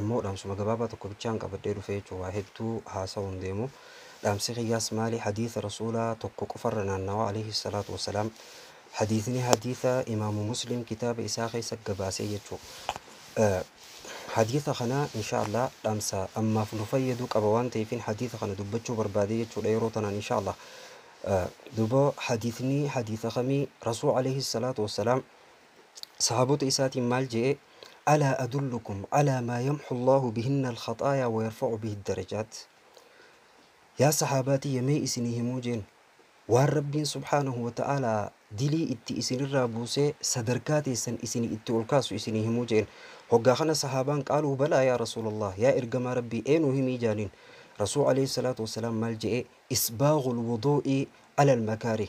Ammoo dhaamsuma gabaabaa tokko bichaan qabadhee dhufe jechuudha. Waa hedduu haasawuu hin deemu. Dhaamsi kiyyaas maali? Hadiisa Rasuulaa tokko qofarra naannawaa alayhi salaatu wa salaam. Hadiisni hadiisa Imaamu Muslim kitaaba isaa keessa gabaasee jechuudha. Hadiisa kana inshaa Allah dhaamsa ammaaf nu fayyadu qaba waan ta'eefin hadiisa kana dubbachuu barbaade jechuudha yeroo tanaan inshaa Allah. Duuba hadiisni hadiisa kamii? Rasuul alayhi salaatu wa salaam Sahaabota isaatiin maal je'e? Alaa adullukum alaa maa yamhu Allaahu bihinna al-khaxaayaa wa yarfa'u bihi ad-darajaat? Yaa sahaabaa tiyya mee isinii himuu jeen? Waan Rabbiin subhaanahu wa ta'aalaa dilii itti isinirraa buusee sadarkaa teessan isinii itti ol kaasu isinii himuu jeen. Hoggaa kana sahaabaan qaaluu balaa yaa Rasuulallaah, yaa ergamaa Rabbii ee nuu himii jaaniin. Rasuul aleyhi salaatu wassalaam maal je'e? Isbaaghul wuduu'i alal makaarih.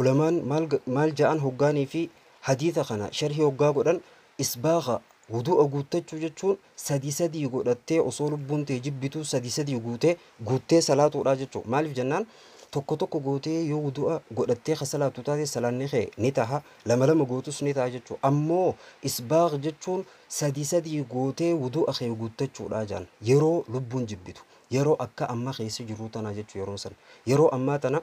Ulamaan maal ja'an hoggaanii fi hadiisa kana sharhii hoggaa godhan isbaagha wuduu'a guuttachuu jechuun sadii sadii godhattee osoo lubbuun tee jibbituu sadii sadii guutee guuttee salaatuudha jechuu maaliif jennaan tokko tokko gootee yoo wuduu'a godhattee ka salaattu taate salaanni kee ni taha lama lama gootus ni taha jechuu ammoo isbaagh jechuun sadii sadii gootee wuduu'a kee guuttachuudha ja'an yeroo lubbuun jibbitu yeroo akka amma keessa jirruu tanaa jechuu yeroon san yeroo ammaa tana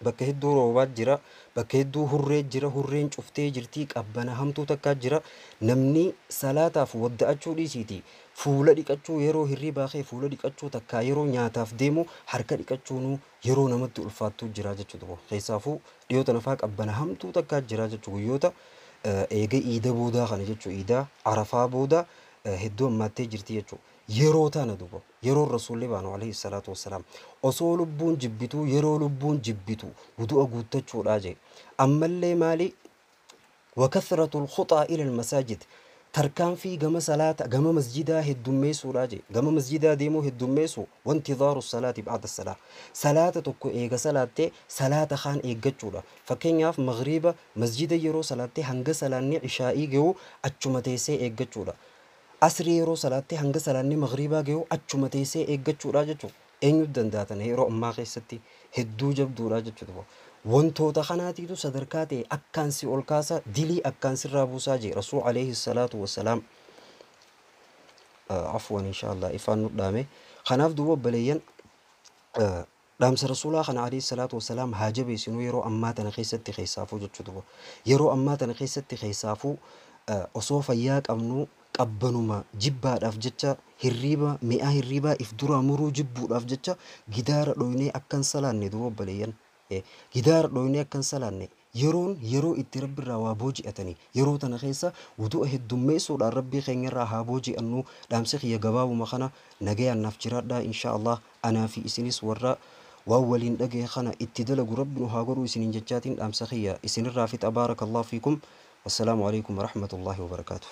Bakka hedduu roobaa jira. Bakka hedduu hurree jira. Hurreen cuftee jirti. Qabbana hamtuu takkaa jira. Namni salaataaf wadda'achuu dhiisiitii fuula dhiqachuu yeroo hirribaa ka'e fuula dhiqachuu takkaa yeroo nyaataaf deemu harka dhiqachuunuu yeroo namatti ulfaattuu jira jechuudha kun. Keessaafuu dhiyoo tana faa qabbana hamtuu takkaa jira jechu guyyoota eega iida boodaa kana jechu iida arafaa booda hedduu hammaattee jirti jechu yeroo tana duba. Yeroon Rasuulli baanu Aleyhi salaatu wassalaam osoo lubbuun jibbituu yeroo lubbuun jibbitu wudu'a guuttachuudha jee. Ammallee maali? Wa kathratul khuxaa ilal masaajid tarkaanfii gama salaata gama masjidaa heddummeessuudha jee. Gama masjidaa deemuu heddummeessu wa intidhaaru salaati ba'da salaah. Salaata tokko eega salaattee salaata kaan eeggachuudha. Fakkeenyaaf maghriiba masjida yeroo salaattee hanga salaanni ishaa'ii ge'u achuma teessee eeggachuudha. Asrii yeroo salaattee hanga salaanni maghriibaa gayu achuma teessee eeggachuudhaa jechuun eenyutu danda'a tana yeroo ammaa keessatti hedduu jabduudhaa jechuudha. Wantoota kanaatiitu sadarkaa ta'e akkaan si ol kaasa dilii akkaan sirraa buusaa jee rasuul alayhi salaatu wassalaam. Afwan inshallah ifaan nudhaame. Kanaaf duuba obbaleeyyan Dhaamsa Rasuulaa kana Aleyhi salaatu wa salaam haa jabeesinu yeroo ammaa tana keessatti keessaafuu jechuu duba yeroo ammaa tana keessatti keessaafuu osoo fayyaa qabnuu qabbanuma jibbaadhaaf jecha hirriiba mi'aa hirriibaa if duraa muruu jibbuudhaaf jecha gidaara dhoynee akka hin salaanne duba obboleeyyan gidaara dhoynee akka hin salaanne Yeroon yeroo itti Rabbi irraa waa booji'atani. Yeroo tana keessa wuduu'a heddummeessuudhaan Rabbii keenya irraa haa booji'annu. Dhaamsi kiyya gabaabuma kana. Nagayaan naaf jiraadhaa inshaa Allaah. Anaa fi isinis warra waan waliin dhagahe kana itti dalagu Rabbi nu haa godhu isiniin jechaatiin dhaamsa kiyya isin irraa fixa Baarakallaahu fiikum. Wassalaamu aleykum warahmatullaahi wabarakaatuh.